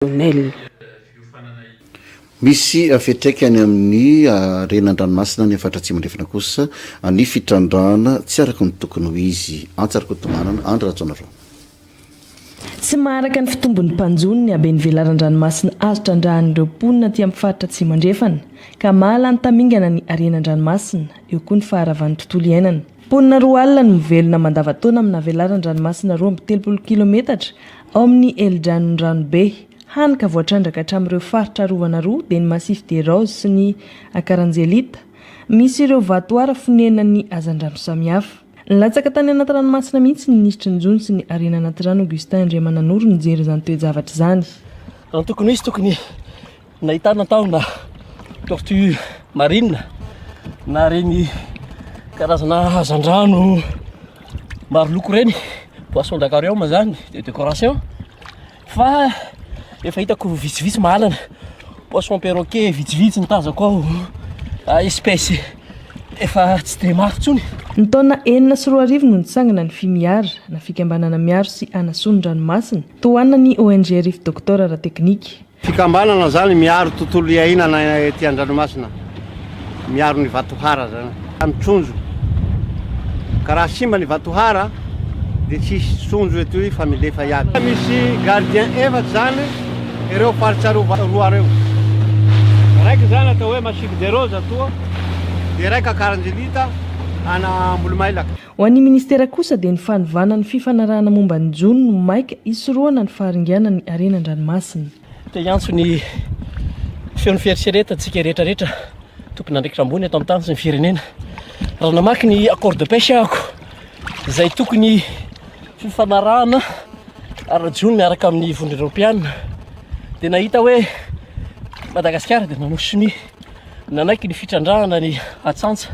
Lionel. Misy fiantraikany amin'ny harena an-dranomasina any amin'ny faritra Atsimo Andrefana kosa ny fitrandrahana tsy araka ny tokony ho izy. Antsa Rakotomanana, Andry Rajaonarao. Tsy maharaka ny fitombon'ny mpanjono ny haben'ny velaran-dranomasina azo trandrahan'ireo mponina aty amin'ny faritra Atsimo Andrefana, ka mahalany tamingana ny harena an-dranomasina, eo koa ny faharavan'ny tontolo iainana. Mponina roa alina no mivelona mandavantaona amina velaran-dranomasina roa amby telopolo kilometatra ao amin'ny Helodranon' Ranobe, hany ka voatrandraka hatramin'ireo faritra arovana roa dia ny Massif des Roses sy ny Akaranjelita. Misy ireo vatohara fonenan'ny hazandrano samihafa. Nilatsaka tany anaty ranomasina mihitsy ny minisitry ny Jono sy ny harena anaty rano Augustin Andriamananoro nijery izany toe-javatra izany. Antoko Misy tokony nahitana tao na tortue marine na reny karazana hazandrano maro loko reny poisson d'aquarium zany de décoration fa efa hitako vitsivitsy mahalana poisson perroquet vitsivitsy ny tazako ao ah, espèce efa tsy de mafy tsony Ny taona enina sy roa arivo no nitsangana ny Fimiara, na Fikambanana Miaro sy Hanasoa ny Ranomasina, tohanan'ny ONG Riff Doctor ara-teknika. Fikambanana zany miaro tontolo iainana ety andranomasina, miaro ny vatohara zany. Ny trondro, ka raha simba ny vatohara dia tsy hisy trondro eto fa milefa iaby. Misy gardien efatra zany ireo faritra roa reo, raiky zany atao hoe Massique des Roses atoa, de raiky Akaranjilita ana Ambolomailaka. Ho an'ny Ministera kosa dia ny fanovana ny fifanarahana momba ny jono no maika hisorohana ny faharinganan'ny harena an-dranomasina. Te hiantso ny feon'ny fieritreretantsika rehetrarehetra, tompon'andraikitra ambony eto an-tany sy ny firenena, raha namaky ny accord de pêche ahako, izay tokony fifanarahana ara-jono miaraka amin'ny vondrona eropeanina, dia nahita hoe Madagasikara dia nanao sonia, nanaiky ny fitrandrahana ny atsantsa,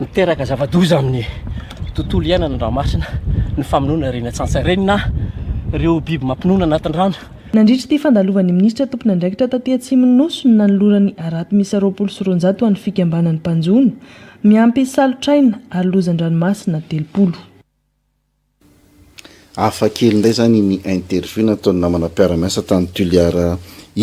Miteraka zava-doza amin'ny tontolo iainana an-dranomasina ny famonoana ireny atsantsa ireny na ireo biby mampinono anatin'ny rano. Nandritra ity fandalovan'ny minisitra tompon'andraikitra taty atsimon'ny Nosy no nanolorany harato miisa roapolo sy roanjato ho an'ny fikambanan'ny mpanjono miampy salotraina ary lozan-dranomasina telopolo. Hafa kely indray izany ny interview nataon'ny namana mpiara-miasa tany Toliara iny.